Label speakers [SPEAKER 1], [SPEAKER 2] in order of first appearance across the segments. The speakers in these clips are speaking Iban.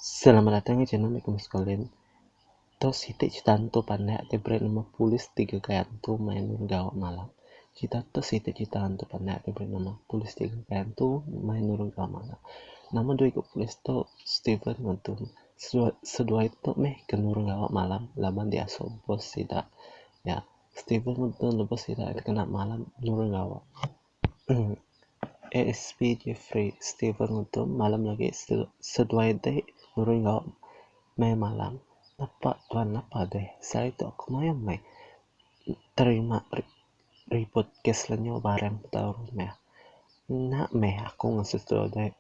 [SPEAKER 1] Selamat datang ke channel aku sekalian. Tu siti cerita hantu pandak ke beri nama Polis Tiga Kai Hantu main gawa malam. Cerita tu siti cerita hantu pandak ke beri nama Polis Tiga Kai Hantu main nurung gawa malam. Nama dua iku polis tu Steven ngan Tom. seduai tu meh ke nurun gawa malam laban diasu bos sida nya Steven Lebuh nubuh bos sida kena malam nurun gawa uhh ASP Jeffrey Steven Lebuh malam agi seduai ti nurun gawa meh malam napa tuan napa deh sehari tu aku mayuh meh terima ribut kes lenyau barang nya nya meh aku ngesu tu deh.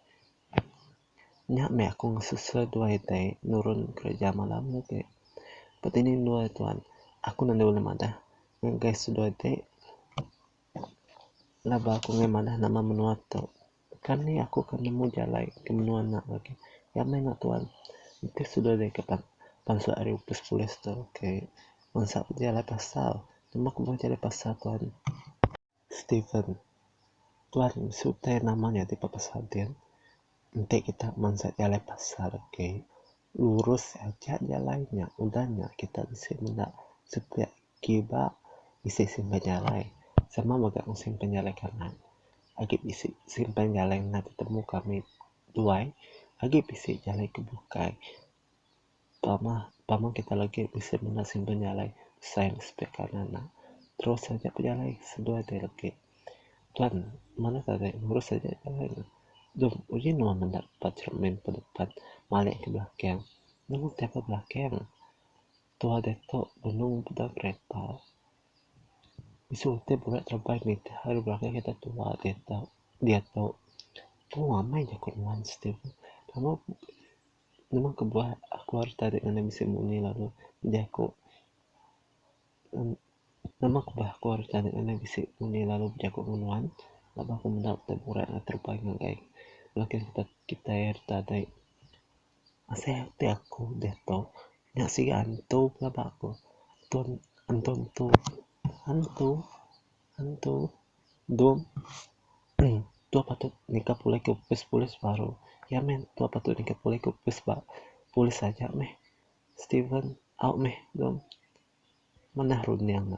[SPEAKER 1] Nya meh aku ngesusah dua itai nurun kereja malam nya ti. Ba dinding dua tu an aku nanda ulih madah ngin gas dua iti laban aku ngeh madah nama menua tu. Kan nih aku ke nemu jalai ke menua nya lagi. Nya meh nya tuan entis dua dih ke pan pansut ari opis polis tu ke ngensak jalai pasar. Nemu ke mbuh jalai pasar tuan. Steven. Tuan mesu utai nama nya ti bepesal din. Enti kita mansa jalai pasar agi, lurus aja jalai nya. Udah nya kita bisi menda sepiak kiba bisi simpan jalai. Sama mega mung simpan jalai kanan. Agi bisi simpan jalai ngena tetemu kami duai. Agi bisi jalai ke bukai. Tama tama kitai lagi bisi menda simpan nya alai sai ne sepiak kanan ne terus aja bejalai seduai ti legi kan mene tadi lurus aja jalai ne deh uji ne meh meda ba cermin ba depan malik ke belakang nemu tai ke belakang tuah ditu benung peda kereta mesu ti bala tereban nitih hari belakang kita tuah ditu ditu pun amai ku nuan siti pun. Nemu kebuah aku harus tarik ngagai bisi munyi lalu bejaku Nemu kebuah aku harus tarik ngagai bisi munyi lalu bejaku enggau nuan laban aku meda utai burak lalu terupai ngagai belakin kitai kitai ri tadai. Asai ati aku diatu nya siga antu pelaban aku. Antu antu antu antu. Tentu dom tu patut nika pulih ku opis polis baru iya meh tua patut nika pulih ku opis ba polis aja meh steven au meh dom manah runing ne.